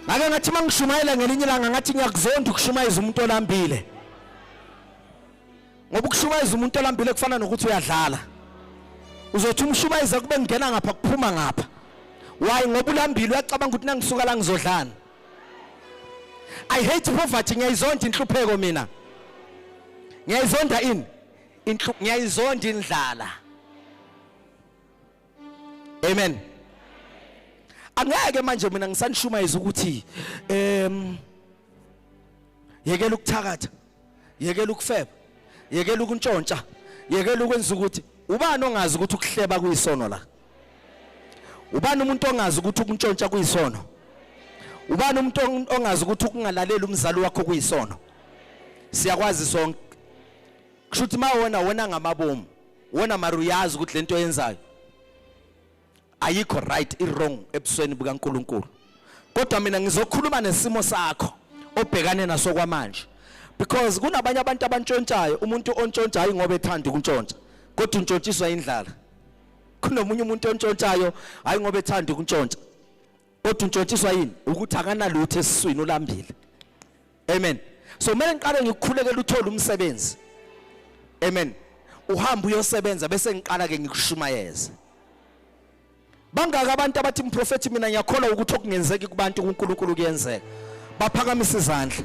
ngake ngathi uma ngishumayela ngelinye ilanga ngathi ngiyakuzonda ukushumayeza umuntu olambile ngoba ukushumayeza umuntu olambile kufana nokuthi uyadlala uzothi umshumayeza kube ngingena ngapha kuphuma ngapha wayi ngoba ulambile uyacabanga ukuthi nangisuka la ngizodlana i hate poverty ngiyayizonda inhlupheko mina ngiyayizonda ini ngiyayizonda indlala Amen. Angeke manje mina ngisanishumayeza ukuthi em yekela ukuthakatha, yekela ukufeba, yekela ukuntshontsha, yekela ukwenza ukuthi ubani ongazi ukuthi ukuhleba kuyisono la? Ubani umuntu ongazi ukuthi ukuntshontsha kuyisono? Ubani umuntu ongazi ukuthi ukungalaleli umzali wakho kuyisono? Siyakwazi sonke. Kushuthi mawona wena ngamabomu. wona mara uyazi ukuthi lento oyenzayo ayikho right i wrong ebusweni bukaNkuluNkulu kodwa mina ngizokhuluma nesimo sakho obhekane naso kwamanje because kunabanye abantu abantshontshayo umuntu ontshontsha hayi ngoba ethanda ukuntshontsha kodwa untshontshiswa indlala kunomunye umuntu ontshontshayo hayi ngoba ethanda ukuntshontsha kodwa untshontshiswa yini ukuthi akanalutho esiswini ulambile amen so kumele ngiqale ngikukhulekele uthole umsebenzi amen uhamba uyosebenza bese ngiqala ke ngikushumayeze bangaka abantu abathi mprofethi mina ngiyakholwa ukuthi okungenzeki kubantu kuNkulunkulu kuyenzeka baphakamisa izandla